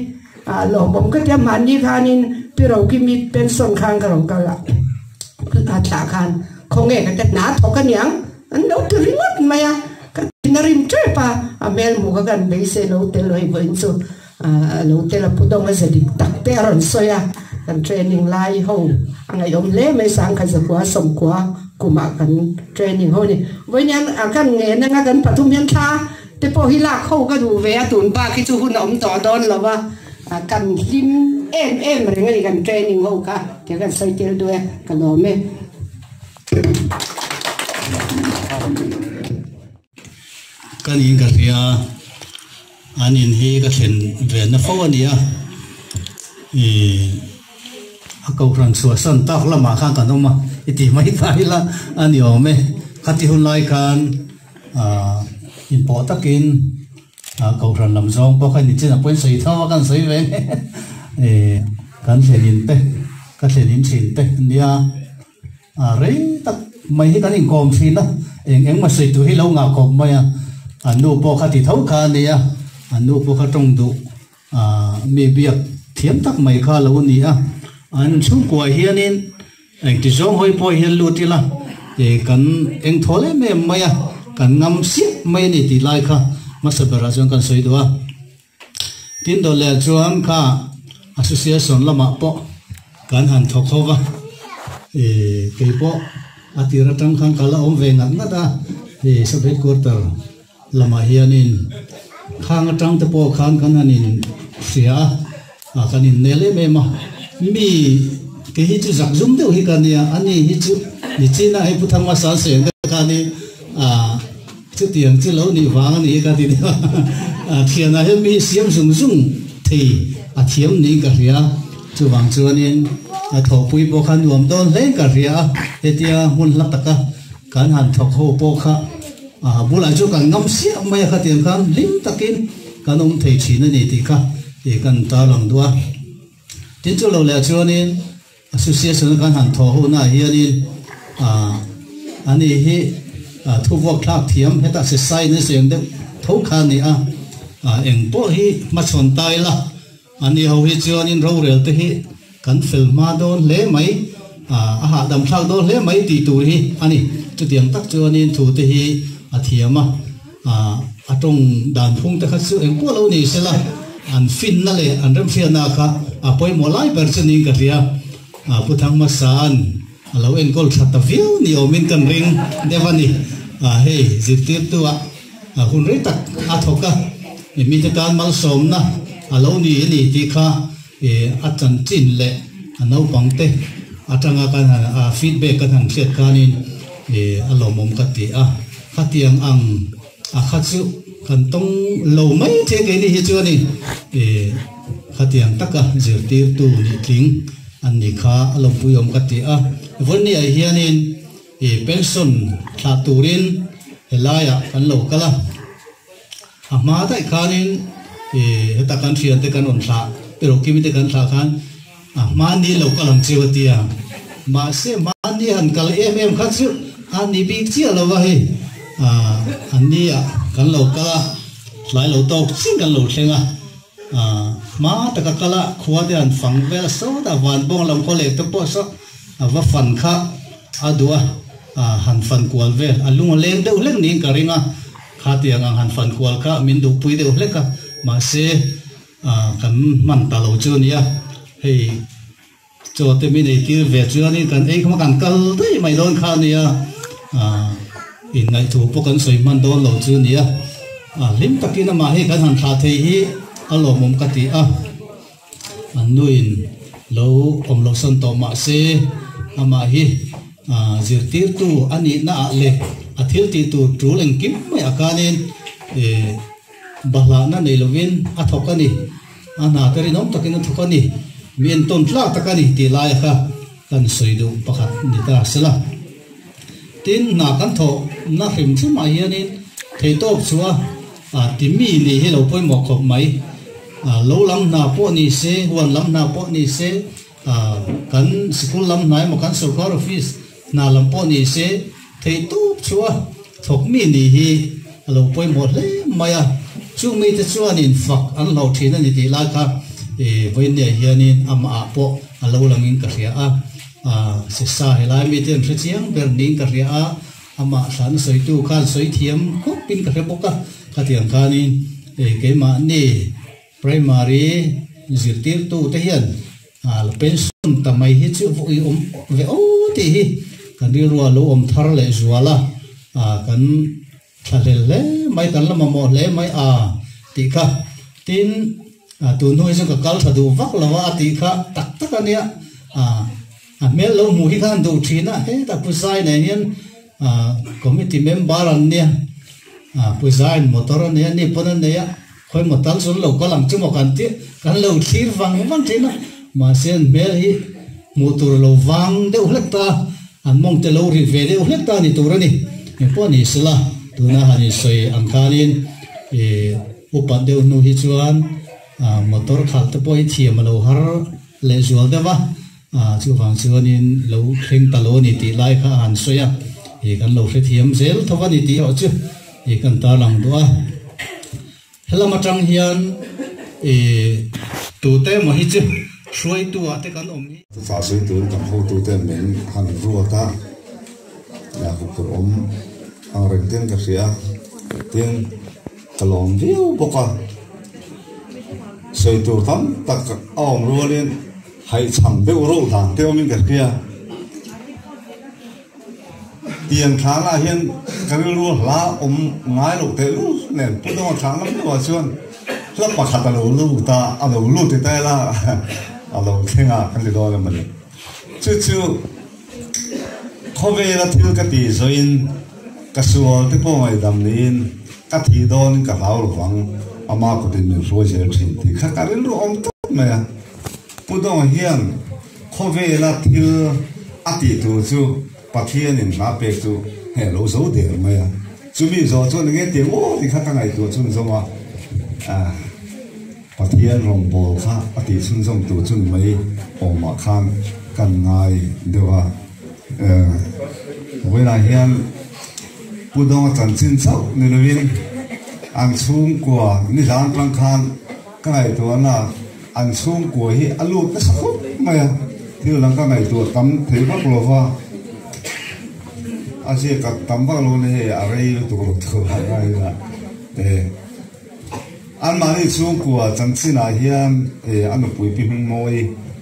Speaker 1: a lawmawm ka tia mahni khanin pi roki mi pension khan ka rawn kal a thlah khan khawnge ka ti hnathawk a niang. An lo ti ringawt mai a, ka tin a rim tep a, a hmel muk a kan beisei lo tel lo hi vawiin chu a lo tel a, pudong a ze dik tak te a rawn sawi a, kan training lai ho a ngaihawm hle mai sangkhat zakua sawmkua kumah kan training ho ni vawiin hian a kan ngen anga kan pathum hian thla te pawh hi lak ho ka duh ve a, tun bak hi chu hun a awm tawh dawn lo va, kan hlim em em reng a ni kan training ho kha tia kan sawi tel duai a, ka lawm e. ka niin ka hria a an in hi ka thlen ve na fo a nia ih a kohhran chhuah san tak lamah khan kan awm a i tih mai ta ila a ni awm e kha ti hun lai khan ah in pawh takin ah kohhran lam zawng pawh kha ni chin a pawi sawi tho a kan sawi ve ngei eh kan thlen in te ka thlen in thin te nia A rei tak mai hi kan inkawm thin a, eng engmaw sawitu hi lo ngah kawp mai a, a nu pawh kha ti tho kha a ni a, a nu pawh kha tawng duh mi biak thiam tak mai kha a lo ni a. An chhungkuaah hianin engti zawng hawi pawh hian lut ila kan engthawl em em mai a, kan ngam siap mai a ni tih lai kha hmasa berah chuan kan sawi duh a. Tin dawt leh chuan kha association lamah pawh kan han thaw kho va, keipawh a tir atang khan kal a awm ve ngat ngat a, sub headquarter lamah hianin khang atangte pawh khan kan han inhria a. A kan in nel em em a, mi kei hi chu zak zum deuh hi ka nia, a ni hi chu ni chin a hei pu thangma sal seng deuh khan hi a chuti ang chu lo nih vang a ni ka ti deuh a, a thian ah hian mi hi siam zung zung thei a thiam niin ka hria, chuvang chuan in a thawhpui pawh kha nuam dawn hleng ka hria a, hetia hmun hla taka. Kan han thawk ho pawh kha a bulah chu kan ngam siam mai a khatiang khan hlim takin kan awm thei thin a ni tih kha i kan intar lang duh a. Tin chu lo leh chuanin Association a kan han thaw ho naah hianin ah ani hi thubuak thlak thiam heta se sign a siam deuh tho kha a ni a, eng pawh hi hmachhawn ta ila. A ni ho hi chuanin rorel te hi kan fel hma dawn hle mai, a hahdam thlak dawn hle mai tih tur hi a ni. Chutiang tak chuanin thu te hi a thiam a, a tawng dan phung te kha chu engpawh lo ni se la, an finna leh an remfiahna kha a pawimawh lai ber chuning ka hria. Pu Thangma San. A lo enkawl tha ta viau ni awmin kan ring deuh a ni. Hei zirtirtu ah a hun rei tak a thawk a, mi te tan malsawmna a lo ni a ni tih kha a chanchin leh a naupang te atanga ka feedback ka han hriat khanin a lawmawm ka ti a, khatiang ang. A kha chu kan tawng lo mai che keini hi chuan in eh khatiang taka zirtirtu nih tling an ni kha a lawmpui awm ka ti a. Vonnie-a hianin eh pension thlah turin he laia kan lo kal a. A hma daih khanin eh heta kan thiante kan rawn thlah erawh kimite kan thlah khan, A hmani lo kal ang chiu a ti a, mahse hmani han kal em em kha chu a ni bik chiah lo va hei, ah an ni ah kan lo kal a, tlai lo tawk chin kan lo thleng a, ah hma taka kal a khua te han fang vel a sawt a, vanbawng lam khaw leh te pawh saw a va fan kha a duh a, ah han fan kual vel a lung leng deuh hlek niin ka ring a, khatiang ang han fan kual kha min duhpui deuh hlek a, mahse. Ahh kan hman ta lo chu a nia hei chaw te min ei tir ve chuan in kan engkhaw kan kal daih mai dawn kha a nia ahh in ngaih thu pawh kan sawi hman dawn lo chu a nia ahh hlim tak in amah hi kan han thlah thei hi a lawmawm ka ti a an nu in lo awm lo sawn tawh mah se amah hi ahh zirtir tu a nih na ah leh a thil tih tur tul engkim mai ah khan in ehh Bahlahna nei lovin a thawk a ni, a hna te rinawm takin a thawk a ni, mi entawn tlak tak a ni tih laia kha kan sawi duh pakhat ni ta a si la. Tin, hna kan thawh na hrim hrim ah hianin theihtawp chu a ti mi nih hi lo pawimawh khawp mai. Lo lam hna pawh ni se, huan lam hna pawh ni se, kan sikul lam hna emaw kan sawrkar office, Hna lam pawh ni se, thei tûk chua thawk mi ni hi a lo pawimawh hle mai a. Chung mite chuanin fak an hlauh ṭhin a ni tih lai kha i vawinia hianin amahah pawh a lo langin ka hria a. Sisa helai mite an hre chiang ber niin ka hria a, amah thla na sawitu khan sawi thiam khawpin ka hre bawk a. Khatiang khanin keimahni Primary zirtîrtute hian. Hal pension ta mai hi chu vawi awm ve o tih hi kan rilruah lo awm thar leh zual a, kan thla hlel hle mai, kan la mamawh hle mai a tih kha. Tin, tunhnu hi chu ka kal tha duh vak lo a, a tih kha tak tak a nia. A hmel lo hmuh hi kha han duh thin a, he ta Pu Sai nen hian, Ahh committee member an nia ahh puisa in motor a nei a ni pawn a nei a khawi maw tal zul lo ka lang chu maw kan tih kan lo thlir vang vang thin a mahse an hmel hi hmuh tur lo vang deuh hlek ta an mawng te lo rilh ve deuh hlek ta ni tur a ni eng pawh a nih sela tuna han insawi ang khan in ihh u pat deuh hnu hi chuan ahh motor khalh te pawh hi thiam a lo har leh zual deuh a. A, chuvang chuanin lo thleng ta lo a ni tih lai kha a han sawi a, ih, kan lo hrethiam zel thawk a ni tih erawh chu ih, kan tarlang duh a. Helam atang hian, ih, tute emaw hi chu hruaituah te kan awm hi. Faa sawi tur kan hotute min han ruat a, ih, hmuhtur awm ang reng ten ka hria a, tin ka lawm viau bawk a, sawi tur tam tak a awm rualin, Hai chhang deuh reuh dan te awmin ka hria. Tiang thlangah hian ka rilru a hla awm ngai loh teh lul nen. Putawng a thlang lam deuhah chuan hla pakhat a lo lut a, a lo lut i tel a, a lo thleng a kan ti dawn a mawni. Chu chu khawvela thil ka ti zawiin ka sual te pawh ngaihdam niin ka thih dawnin ka hlau lovang. Ama kutin min hruai zel thin tih kha ka rilru awm tawp mai a. Pu Daw hian khawvela thil a tih tur chu Pathianin hla pek chu hei a lo zo der mai a, chumi zawh chuan enge ti ang aw tikhat a ngaihtuah chu ni zawng a, Pathian rawngbâwl kha a tihchhun zawng tur chu ni mai awmah khan ka an ngai deuh a. Vawilah hian Pu Daw a chanchin chauh ni loin an chhungkua ni zân tâng khan ka ngaihtuahna. An chhungkua hi a lut nasa khawp mai a, thil dang ka ngaihtuah tam thei vak lo va, a ziak tak tam vak lo nia hei a rei lutuk lo chu a ngai ila e. Anmahni chhungkua chanchinah hian e a nupuipi hmingmawi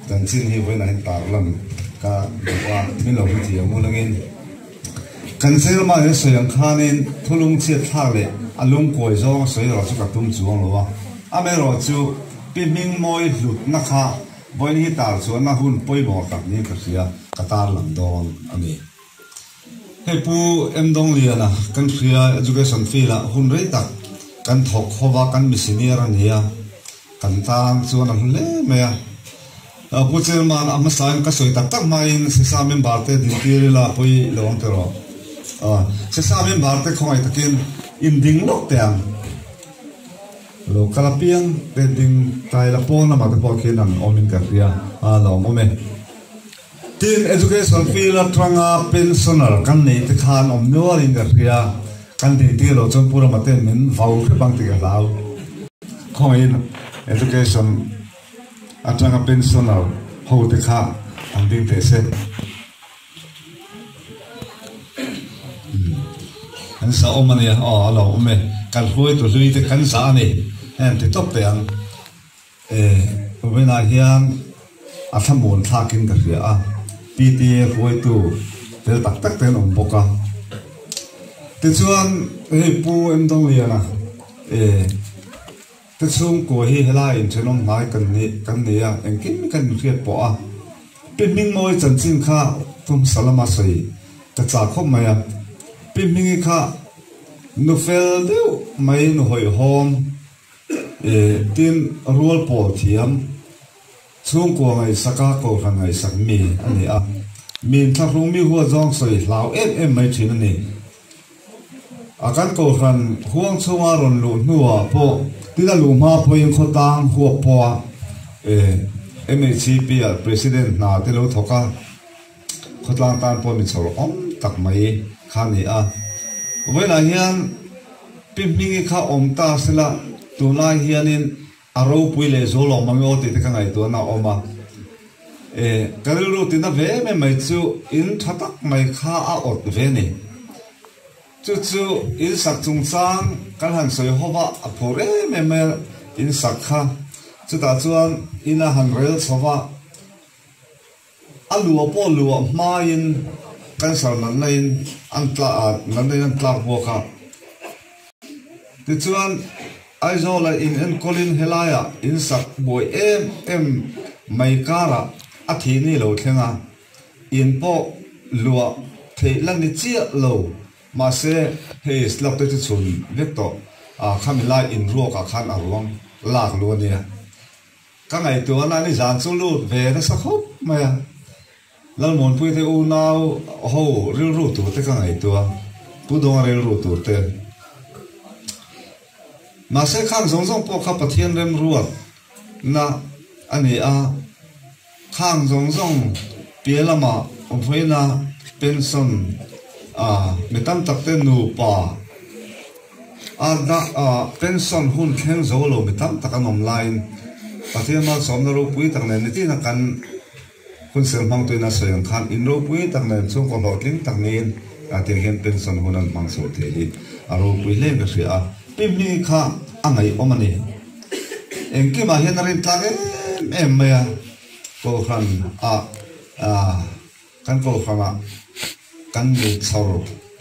Speaker 1: chanchin hi vawiinah hian tarlan ka hmu a, min lo hmu thih ang ulangin. Kan Felma he sawi ang khanin thulung chiatthlak leh a lungkuai zawnga sawi erawh chu ka tum chuang lo a. Amerawh chu Pi Hmingmawi hlutna kha vawiin hi tar chuanna hun pawimawh tak niin ka hria. Ka tarlang dawn a ni. Hei Pu Emdongliana kan hria education field ah hun rei tak kan thawk ho va kan mi senior a nia. Kan tang chuan a hlu hle mai a. Pu Chairman, a hmasain ka sawi tak tak hmain SESA member te dintir ila pawi lo ang tiraw? SESA member te khawngaih takin inding lawk teh ang. Lo kal apiang te ding tlai la pawn lamah te pawh khin an awm in kan ti a, a lo awm e. Tiin education fee latanga pensioner kan nei te khan awm nual in ka hria, kan dintir lo chuan Pu Ramate min vau hrep ang tih ka hlau. Khawngaihin education. Atanga pensioner hote kha an ding teh se. Kan zah awm a nia, aw a lo awm e. Kan hruai tu hlui te kan zah a ni a en ti tawp teh ang. E, vawiinah hian a thla muan thlakin ka hria a, PTA hruaitu fel tak tak te an awm bawk a. Tichuan hei Pu Emdawng Liana e, Ka chhungkaw hi helaiin thenawm hnai kan nih kan ni a, engkim i kan inhriat pawh a. Pi Hming mawi chanchin kha ka hmasa lama sawi ka chah khawp mai a. Pi Hming i kha nu fel deuh mai, nu hawihhawm, eh tin rual pawl thiam Chhungkua ngaihsaka kohhran ngaihsak mi a ni a, min thlahrung mi huatzuang sawi hlau em em mai thin a ni. A kan kohhran huang chhunga rawn luh hnuah pawh tin a luh hma pawhin khawtlang huap pawha MHCP ah President hna te lo thawk a, khawtlang tan pawh min chhawrh awm tak mai kha a ni a. Vawilah hian Pi Hmingi kha awm ta sela tunlai hianin, A ropui leh zu lawng mamiaw tih te ka ngaihtuahna a awm a, e, ka rilru tina ve mai mai chu in tha tak mai kha a awt ve ni. Chu chu in sak chungchang kan han sawi ho va a phur em em mai a in sak kha, chutah chuan ina han rel chho va. A lua pawh luah hmaiin cancer nannaihin an tlak a, nannaihin an tlak bawk a. Tichuan, Aizawla in enkawlin helaia in sak buai em em mai karah a thih ni lo thleng a, in pawh luah theih la ni chiah lo. Mahse, hei slab te chu chhun vek tawh, a khami lai in ruakah khan a ruang lak lu a nia. Ka ngaihtuah nan i zan chu lut ve nasa khawp mai a, Lalmuanpui te unau ho rilru tur te ka ngaihtuah, Pu Dawnga rilru tur te. Mahse khang zawng zawng pawh kha Pathian remruat na a ni a, khang zawng zawng pial lama awmhawina pension a, mi tam tak te nupa, A dah a, pension hun thleng zo lo mi tam tak an awm laiin Pathian malsawmna ropui tak nen nitihna kan hun sir hmang tuin a sawi ang khan in ropui tak nen chhungkaw hlawhtling tak niin a ti ang hian pension hun an hmang chho thei hi a ropui hle ka hria a. Pi hmi kha a ngaihawm a ni. Engkimah hian a rin tlak em em mai a, Kohhran a. Kan kawlhrangah kan min chhar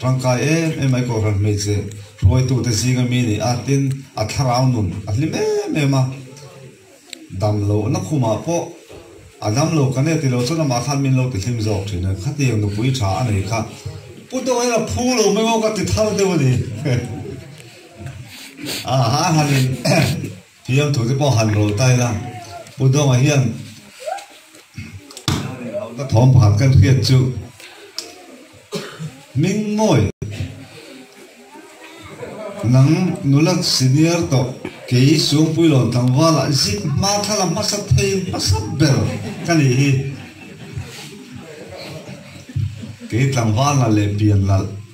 Speaker 1: tangkai em em mai kawlhran hmeichhe hruaitute zinga mi ni a, tin a thlarau nun a hlim em em a, damlohna khumah pawh a damlo ka neh tilo chuan amah khan min lo ti hlim zawk thin a, khatiang nupui tha a nei kha pu deuh hian a phu lo mai maw ka ti thar deuh a ni. Ahahan in. Thiam thu te pawh han rawl ta ila, Pu Dawnga hian inhauna thawm pakhat kan hriat chu hming mawi nang nula senior tawh kei suang pui lawn tlangvala zip hma thla la hmasa theiin hmasa ber ka nih hi kei tlangval nalh leh pian nalh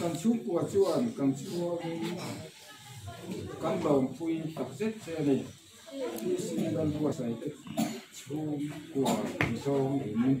Speaker 1: Kan chhungkua chuan kan chhuangin kan lawmpui tak zet che a ni. PC Lalbuasawi te chhungkua ti zawng in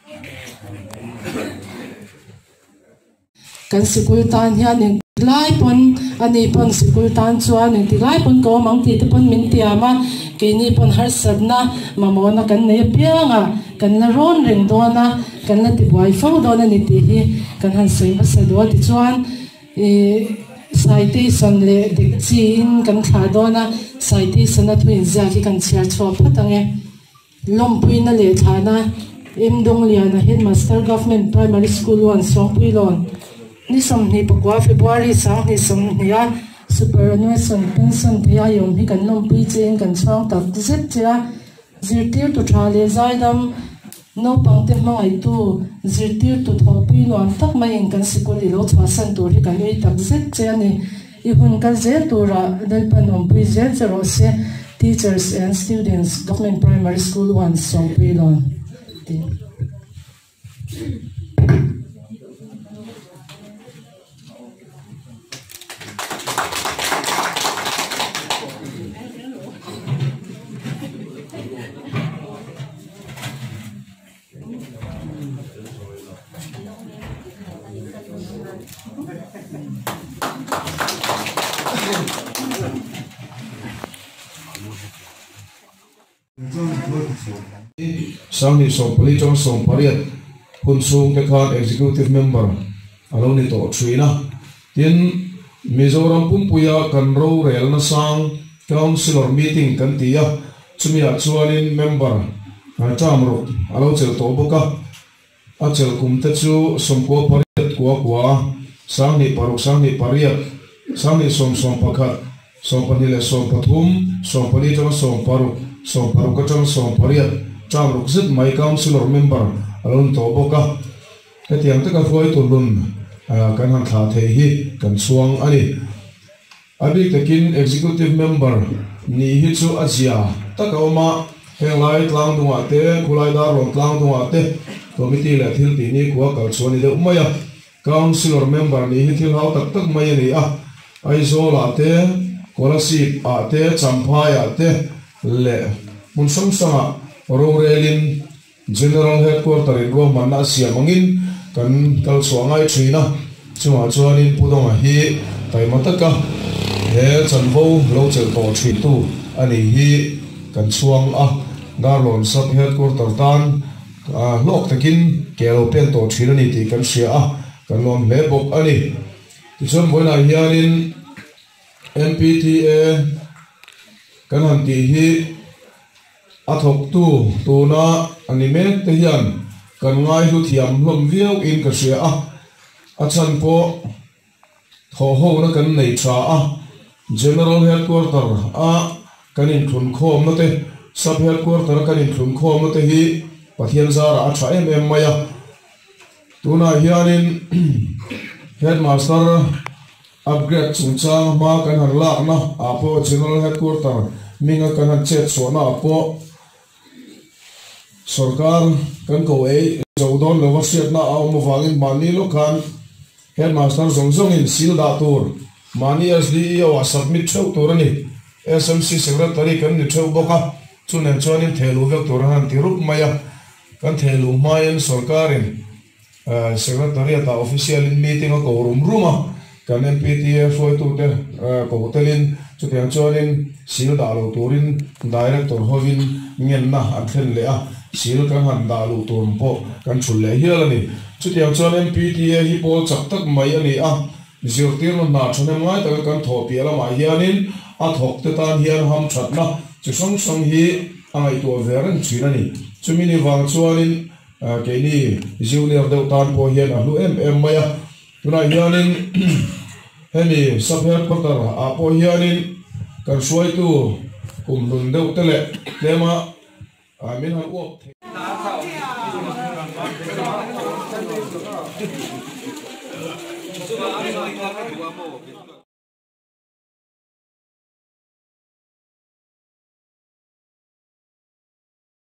Speaker 1: Kan sikul tan hian eng ti lai pawn a ni pawn sikul tan chuan eng ti lai pawn ka awm ang tih te pawn min tiam a, keini pawn harsatna mamawna kan nei apiang a, kan la rawn reng dawn a, kan la tibuai fo dawn a ni tih hi kan han sawi hmasa dawn a, tichuan citation leh dekchiin kan thlah dawn a, citation a thu inziak hi kan chhiar chhuak phawt ang e. Lawmpuina leh thlana M Dongliana Headmaster Government Primary School one Sawngpuilawn ni sawmhnih pakua February sanghnih sawmhnih a Superannuation Pension phei a awm hi kan lawmpui che in kan chhuang tak zet che a Zirtirtu tha leh zaidam naupangte hmangaitu zirtirtu thawhpui nuam tak mai in kan sikul ilo chhuahsan tur hi kan ui tak zet che a ni. I hun kal zel tura Lalpan awmpui zel che rawh se, Teachers and Students, Government Primary School One, Sawmpuilawn, ti. Sangni sawmpali chuan sawmpariat hun chhungte khan Executive Member a lo ni tawh thin a. Tin, Mizoram pumpuia kan rorelna sang Councillor Meeting kan ti a, chumiah chuanin Member Hnaihtam Ruk a lo chel tawh bawk a, a chel kum te chu Sawmkua pariat kua kua, Sanghnih paruk, Sanghnih pariat, Sanghnih sawm sawm pakhat, Sawm pahnih leh sawm pathum, Sawm pali atanga sawm paruk, Sawm paruk atanga sawm pariat, Tam ruk zet mai Councillor Member a lo ni tawh bawk a. Hetiang taka hruai tur nun kan han thlah theih hi kan chhuang a ni. A bik takin Executive Member nih hi chu a zia tak a awm a, heng lai tlangdungah te, khulai darlawm tlangdungah te Committee leh thil tih nikhua kal chhuah a ni deuh mai a. Councillor Member nih hi thil hau tak tak mai a ni a, Aizawlah te, Kuala Sip ah te, Champhai ah te leh hmun hrang hrangah rorelin, General Headquarter in ruahmanna a siam angin kan kal chhuah ngai thin a, chungah chuanin Pu Dawnga hi taima taka he chanvo lo chelh tawh thintu a nih hi kan chhuang a, Garlawm Sub Headquarter tan hlawk takin ke a lo pêk tawh thin a ni tih kan hria a, kan nuam hle bawk a ni. Tichuan vawiinah hianin MPTA kan han tih hi. A thawktu tuna a ni mek te hian kan ngaihlu thiam hlawm viau in ka hria a, a chhan pawh thawh ho na kan nei tha a, General Headquarter a kan in thlun khawm na te, Sub Headquarter a kan in thlun khawm na te hi Pathian zara a tha em em mai a, tunah hian in Headmaster Upgrade chungchang hma kan han lakna ah pawh General Headquarter minga kan han chet chhuahna ah pawh sorkar kan ko ei zo dawn lova hriatna a awm avangin mahni lawkhan Headmaster zawng zawngin sil dah tur mahni SDEO ah submit theuh tur a ni. SMC Secretary kan ni theuh bawk a, chu nen chuanin thehluh vek tur an han ti rup mai a, kan thehluh hmain sorkarin. Secretariat ah official in meeting a ko rum rum a, kan MPTA hruaitu te ko tel in chutiang chuan in sil dah lo tur in Director ho in ngen na an thlen leh a, sil kan han dah luh tur ang pawh kan chhul leh hial a ni. Chutiang chuan MPTA hi pawl chak tak mai a ni a, zirtir na hna thahnem ngai tak in kan thawh piah lam ah hian in a thawk te tan hian ham that na chi hrang hrang hi a ngaihtuah ve reng thin a ni. Chumi ni vang chuan in Keini junior deuh tan pawh hian a hlu em em mai a. Tunah hianin hemi sub headquarter ah pawh hianin kan hruaitu kum hlun deuh te leh tlema min han uap thei mai.